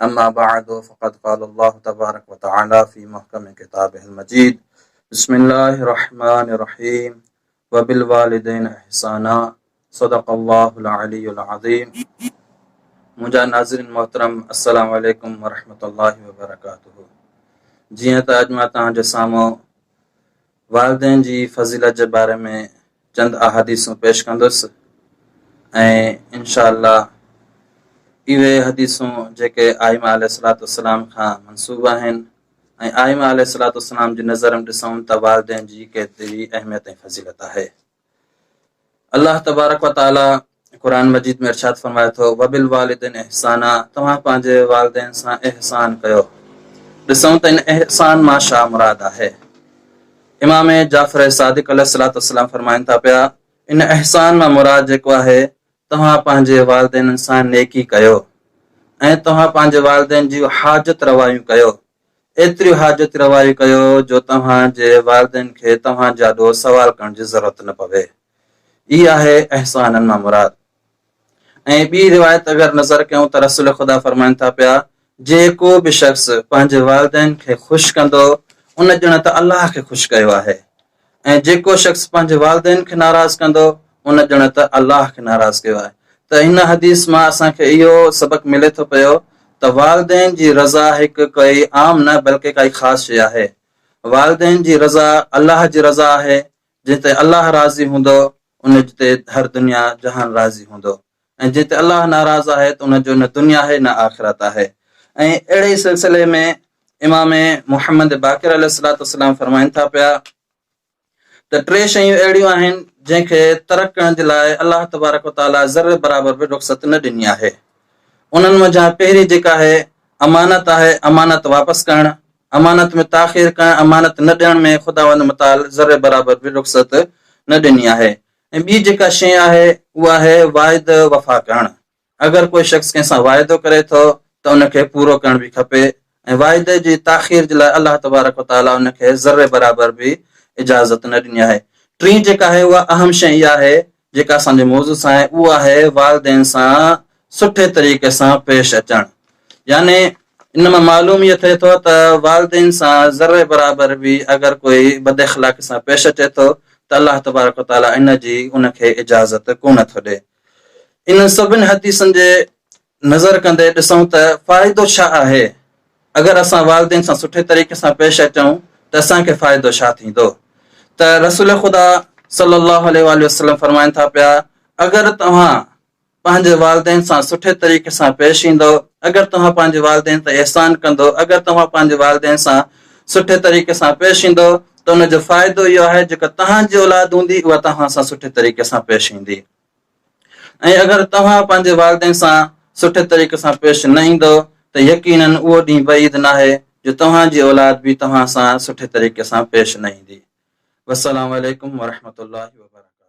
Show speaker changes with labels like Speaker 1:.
Speaker 1: اما بعد فقد قال الله تبارڪ وتعالي في محکم کتابه المجيد بسم الله الرحمٰن الرحيم وبالوالدين احسانا صدق الله العلي العظيم منهنجا ناظرين محترم السلام عليڪم ورحمة الله وبرڪاته جيئن ته اڄ مان توهان جي سامهون والدين جي فضيلت جي باري ۾ چند احاديثون پيش ڪندس ۽ انشاء الله اهي حديثون جيڪي آئمه عليه الصلاة والسلام کان منسوب آهن ۽ آئمه عليه الصلاة والسلام جي نظر ۾ ڏسون ته والدين جي ڪيتري اهميت ۽ فضيلت آهي. الله تبارڪ و تعالي قرآن مجيد ۾ ارشاد فرمائي ٿو وبالوالدين احسانا توهان پنهنجي والدين سان احسان ڪيو ڏسون ته ان احسان مان شا مراد آهي امام جعفر صادق عليه الصلاه والسلام فرمائن ٿا پيا ان احسان مان مراد جيڪو آهي توهان پنهنجي والدين سان نيڪي ڪيو ۽ توهان پنهنجي والدين جي حاجت روايون ڪيو ايتريون حاجت روائيون ڪيو جو توهان جي والدين کي توهان جاڏو سوال ڪرڻ جي ضرورت نه پوي. هي آهي احسانن مان مراد. ۽ ٻي روايت اگر نظر ڪيون ته رسول خدا فرمائن ٿا پيا، جيڪو به شخص پنهنجي والدين کي خوش ڪندو، ان ڄڻ ته الله کي خوش ڪيو آهي. ۽ جيڪو شخص پنهنجي والدين کي ناراض ڪندو ان ڄڻ ته الله کي ناراض ڪيو آهي ته هن حديث مان اسان کي اهو سبق ملي ٿو پيو ته والدين جي رضا هڪ ڪئي عام نه بلڪه ڪائي خاص شيء آهي والدين جي رضا الله جي رضا آهي جنهن تي الله راضي هوندو ان تي هر دنيا جهان راضي هوندو. ۽ جنهن تي الله ناراض آهي ته ان جو نه دنيا آهي نه آخرت آهي ۽ اهڙي ئي سلسلي ۾ امام محمد باقر عليه الصلوة والسلام فرمائن ٿا پيا ته ٽي شيون اهڙيون آهن جنهن کي ترڪ ڪرڻ جي لاء الله تبارڪ وتعاليٰ ذري برابر به رخصت نه ڏني آهي انهن منجهان پهرين جيڪا آهي امانت آهي امانت واپس ڪرڻ امانت ۾ تاخير ڪرڻ امانت نه ڏيڻ ۾ خداوند متعال ذري برابر به رخصت نه ڏني آهي ۽ ٻي جيڪا شيء آهي اهو آهي واعدو وفا ڪرڻ، اگر ڪو شخص ڪنهن سان واعدو ڪري ٿو ته ان کي پورو ڪرڻ به کپي ۽ واعدي جي تاخير جي لاء الله تبارڪ و تعاليٰ ان کي ذري برابر به اجازت نه ڏني آهي. ٽين جيڪا آهي اها اهم شيء اها آهي جيڪا اسان جي موضوع سان آهي اهو آهي والدين سان سٺي طريقي سان پيش اچڻ يعني ان مان معلوم اهي ٿئي ٿو ته والدين سان ذري برابر به اگر ڪوئي بد اخلاقي سان پيش اچي ٿو ته الله تبارڪ و تعالي ان جي ان کي اجازت ڪونه ٿو ڏئي انهن سڀني حديثن جي نظر ڪندي ڏسون ته فائدو ڇا آهي اگر اسان والدين سان سٺي طريقي سان پيش اچون ته اسان کي فائدو ڇا ٿيندو ته رسول خدا صلي الله عليه وسلم فرمائن ٿا پيا اگر توهان پنهنجي والدين سان سٺي طريقي سان پيش ايندؤ، اگر توهان پنهنجي والدين تي احسان ڪندؤ، اگر توهان پنهنجي والدين سان سٺي طريقي سان پيش ايندؤ ته ان جو فائدو اهو آهي جيڪا توهان جي اولاد هوندي اها توهان سان سٺي طريقي سان پيش ايندي ۽ اگر توهان پنهنجي والدين سان سٺي طريقي سان پيش نه ايندؤ ته يقيناً اهو ڏينهن بعيد ناهي جو توهان جي اولاد به توهان سان سٺي طريقي سان پيش نه ايندي. والسلام عليڪم ورحمة الله وبرڪاته.